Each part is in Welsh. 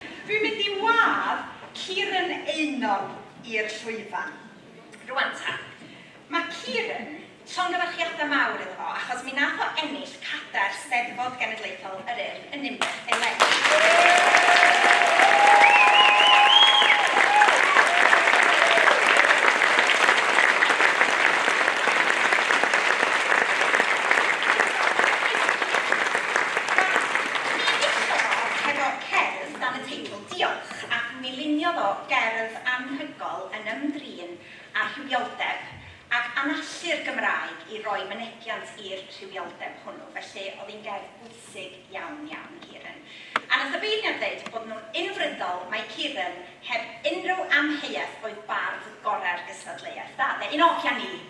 Dwi'n mynd i wadd Kieran Eunog i'r llwyfan. Rwan ta. Mae Kieran, llongyfarchiadau mawr iddo fo achos mi nath o ennill cadair Steddfod Genedlaethol yr Urdd yn Ninbych eleni. Rwan, mi enillodd o hefo cerdd dan y teitl 'Diolch' ac mi luniodd o gerdd anhygoel yn ymdrin â rhywioldeb ac anallu'r Gymraeg i roi mynegiant i'r rhywioldeb hwnnw, felly oedd hi'n gerdd bwysig iawn, iawn, Kieran. A wnaeth y beirniad ddeud bod nhw'n unfrydol mai Kieran, heb unrhyw amheuaeth, oedd bardd gorau'r gystadleuaeth. Da, de? Un oll a ni!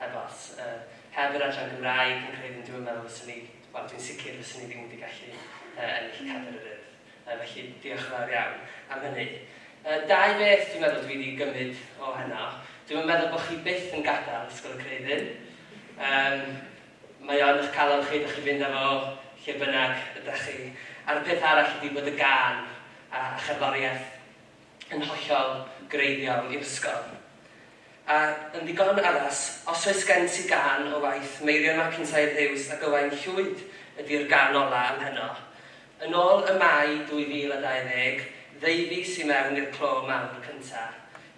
Heb ots. Yy, heb yr adran Gymraeg, fi'n credu, dwi'm yn meddwl fyswn i, wel, dwi'n sicr fyswn i ddim wedi gallu, yy, ennill Cadr yr Urdd. Yy, felly, diolch yn fawr iawn am hynny. Yy, dau beth dwi'n meddwl dwi wedi gymryd o heno. Dwi'm yn meddwl bod chi byth yn gadael Ysgol y Creu Ddyn. Yym, mae o yn eich calon chi, dach chi'n fynd â fo lle bynnag ydach chi. A'r peth arall ydi bod y gân a, a cherddoriaeth, yn hollol greiddiol i'r ysgol. A, yn ddigon addas, os oes gen ti gân o waith Meirion MacIntyre Huws ac Ywain Llwyd ydi'r gân ola ym Mheno. Yn ôl Y Mae 2020, ddeufis i mewn i'r clo mawr cynta.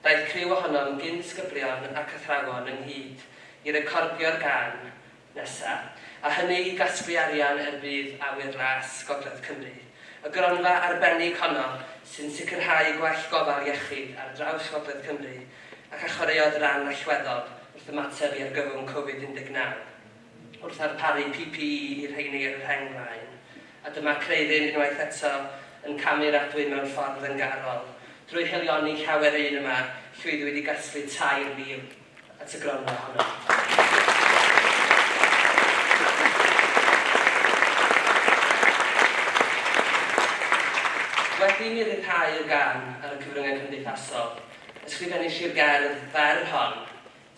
Daeth criw ohonom gyn-sgyblion ac athrawon ynghyd i recordio'r gân, nesaf, a hynny i gasglu arian er budd awyr las Gogledd Cymru. Y gronfa arbennig honno sy'n sicrhau gwell gofal iechyd ar draws Gogledd Cymru ac a chwaraeodd ran allweddol wrth ymateb i argyfwng Covid 19 wrth ddarparu PPE i'r rheini ar y rheng flaen, a dyma Creuddyn unwaith eto yn camu'r adwy mewn ffordd yngarol drwy haelioni llawer un yma llwyddwyd i gasglu 3,000. at y gronfa honno. Wedi i mi ryddhau y gân ar y cyfryngau cymdeithasol, ysgrifennis i'r gerdd fer hon,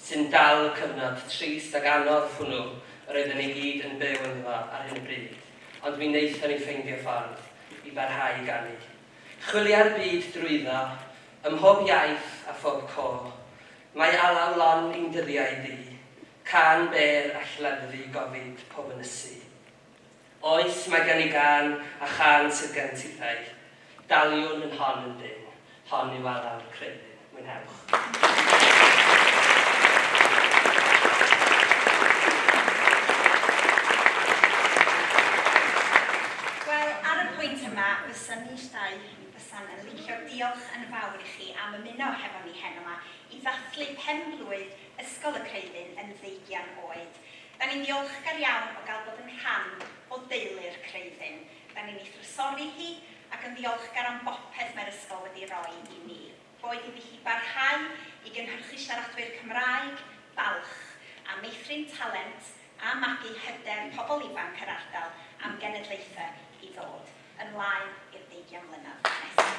sy'n dal y cyfnod trist ac anodd hwnnw yr oedden ni gyd yn byw ynddo ar hyn o bryd, ond mi wnaethon ni ffeindio ffordd i barhau i ganu. Chwilia'r byd drwydda, ym mhob iaith a phob côr. Mae alaw lon i'n dyddiau di, cân bêr a lleddfu gofid pob ynysu. Oes, mae gen i gân, a chân sydd gen tithau. Daliwn yn hon yn dynn, hon yw alaw'r creuddyn. Mwynhewch. Wel, ar y pwynt yma, fysa ni'r dau fysa'n yn licio diolch yn fawr i chi am ymuno hefo ni heno 'ma i ddathlu pen-blwydd Ysgol y Creuddyn yn ddeugian oed. Da ni'n ddiolchgar iawn o gael bod yn rhan o deulu'r Creuddyn. Rydyn ni'n ei thrysori hi ac yn ddiolchgar am bopeth mae'r ysgol wedi roi i ni. Boed iddi hi barhau i gynhyrchu siaradwyr Cymraeg, balch, a meithrin talent a magu hyder pobl ifanc yr ardal am genedlaethau i ddod, ymlaen i'r deugian mlynedd nesaf.